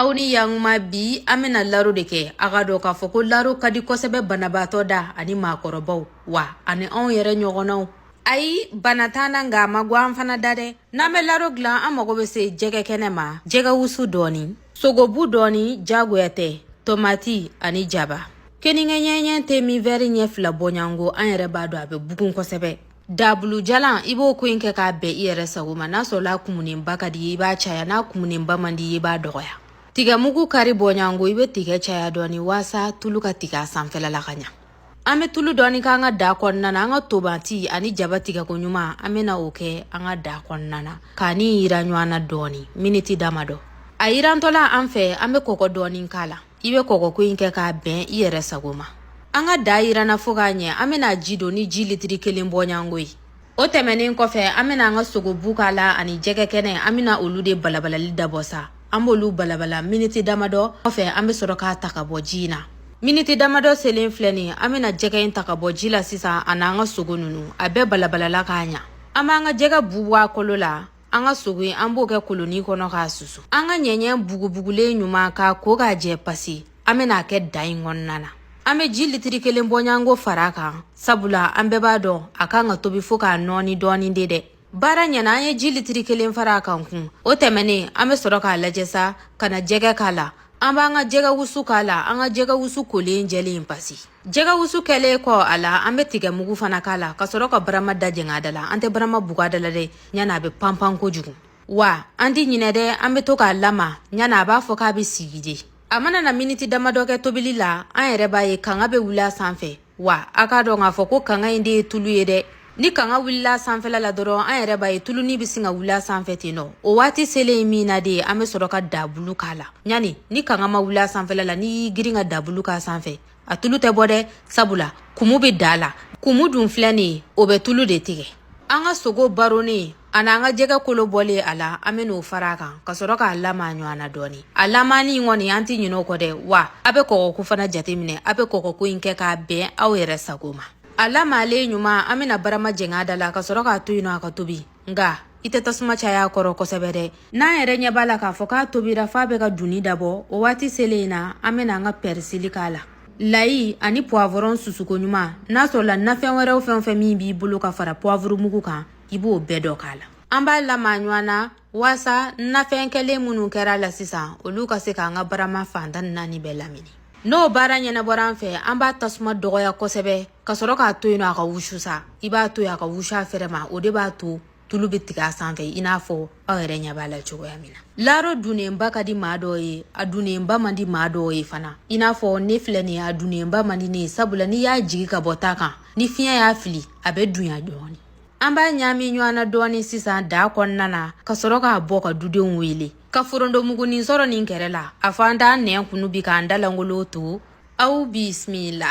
aw ni yankuma bi an bɛna laro de kɛ a k'a dɔn k'a fɔ ko laro ka di kosɛbɛ banabaatɔ da ani maakɔrɔbaw wa ani anw yɛrɛ ɲɔgɔnnaw ayi bana t'an na nka a man go an fana da dɛ n'an bɛ laro dilan an mago bɛ se jɛgɛ kɛnɛ ma jɛgɛ wusu dɔɔni sogobu dɔɔni jagoya tɛ tomati ani jaba keninge ɲɛɲɛ te min wɛri ɲɛ fila bɔɲango an yɛrɛ b'a dɔn a bɛ bugun kosɛbɛ dabulu jalan i b'o ko in kɛ k'a bɛn i yɛrɛ sago ma n'a sɔrɔla a kumunenba ka di i ye i b'a caya n'a kumunenba man di i ye i b'a dɔgɔya tigɛmugu kari bɔɲango i bɛ tigɛ caya dɔɔni waasa tulu ka tigɛ a sanfɛla la ka ɲa an bɛ tulu dɔɔni k'an ka daa kɔnɔna na an ka tomati ani jaba tigɛko ɲuman an bɛna o kɛ an ka daa kɔnɔna na k'a ni yiran ɲɔgɔn na dɔɔni miniti damadɔ a yirantɔla an fɛ an bɛ kɔgɔ dɔɔni k'a la i bɛ kɔgɔko in kɛ k'a bɛn i yɛrɛ sago ma an ka daa yiranna fo k'a ɲɛ an bɛna a ji don ni ji litiri kelen bɔɲango ye o tɛmɛnen kɔfɛ an bɛna an ka sogobu k'a la ani jɛgɛ kɛnɛ an bɛna olu de balabalali dabɔ sa an b'olu balabala miniti damadɔ kɔfɛ an bɛ sɔrɔ k'a ta ka bɔ ji in na miniti damadɔ selen filɛ nin an bɛna jɛgɛ in ta ka bɔ ji la sisan an'an ka sogo ninnu a bɛɛ balabalala k'a ɲa an b'an ka jɛgɛ bu bɔ a kolo la an ka sogo in an b'o kɛ koloni kɔnɔ k'a susu an ka ɲɛɲɛ bugubugulen ɲuman k'a ko k'a jɛ pasi an bɛna a kɛ daa in kɔnɔna na an bɛ ji litiri kelen bɔɲanko fara a kan sabula an bɛɛ b'a dɔn a kan ka tobi fo k'a nɔɔni dɔɔni de dɛ baara ɲɛna an ye ji litiri kelen fara a kan kun o tɛmɛnen an bɛ sɔrɔ k'a lajɛ sa ka na jɛgɛ k'a la an b'an ka jɛgɛ wusu k'a la an ka jɛgɛ wusu kolen jɛlen pasi jɛgɛwusu kɛlen kɔ a la an bɛ tigɛmugu fana k'a la ka sɔrɔ ka barama da jɛng'a da la an tɛ barama bug'a da la dɛ ɲana a bɛ panpan kojugu wa an tɛ ɲinɛ dɛ an bɛ to k'a lama ɲana a b'a fɔ k'a bɛ sigi de a mana na miniti damadɔ kɛ tobili la an yɛrɛ b'a ye kanga bɛ wuli a sanfɛ wa a k'a dɔn k'a fɔ ko kanga in de ye tulu ye dɛ ni kanga wulila sanfɛla la dɔrɔn an yɛrɛ b'a ye tuluni bɛ sin ka wuli a sanfɛ ten nɔ o waati selen min na de an bɛ sɔrɔ ka dabulu k'a la ɲani ni kanga ma wuli a sanfɛla la n'i y'i girin ka dabulu k'a sanfɛ a tulu tɛ bɔ dɛ sabula kumu bɛ da la kumu dun filɛ nin ye o bɛ tulu de tigɛ an ka sogo baronnen ani an ka jɛgɛ kolo bɔlen a la an bɛn'o fara a kan ka sɔrɔ k'a lama ɲɔgɔn na dɔɔni a lamani in kɔni an tɛ ɲinɛ o kɔ dɛ wa a bɛ kɔgɔko fana jateminɛ a bɛ kɔgɔko in kɛ k'a bɛn aw yɛrɛ sago ma a lamalen ɲuman an bɛna barama jɛng'a da la ka sɔrɔ k'a to yen nɔ a ka tobi nka i tɛ tasuma caya kɔrɔ kosɛbɛ dɛ n'an yɛrɛ ɲɛ b'a la k'a fɔ k'a tobira f'a bɛ ka dunni dabɔ o waati selen in na an bɛna an ka pɛrisili k'a la layi ani puwavɔrɔn susuko ɲuman n'a sɔrɔla nafɛn wɛrɛw fɛn o fɛn min b'i bolo ka fara puwavurumugu kan i b'o bɛɛ dɔ k'a la an b'a lamaga ɲɔgɔn na waasa nafɛn kɛlen minnu kɛra a la sisan olu ka se k'an ka barama fan tan ni naani bɛɛ lamini n'o baara ɲɛnabɔra an fɛ an b'a tasuma dɔgɔya kosɛbɛ ka sɔrɔ k'a to yen nɔ a ka wusu sa i b'a to yen a ka wusu a fɛrɛ ma o de b'a to tulu bɛ tigɛ a sanfɛ i n'a fɔ aw yɛrɛ ɲɛ b'a la cogoya min na laro dunnenba ka di maa dɔw ye a dunnenba man di maa dɔw ye fana i n'a fɔ ne filɛ nin ye a dunnenba man di ne ye sabula n'i y'a jigi ka bɔ ta kan ni fiɲɛ y'a fili a bɛ dunya dɔɔni An b'a ɲaami ɲɔgɔn na dɔɔnin sisan daa kɔnɔna na ka sɔrɔ k'a bɔ ka dudenw wele ka forontomugunin sɔrɔ nin kɛrɛ la a fɔ an t'an nɛn kunu bi k'an da lankolon to aw bisimila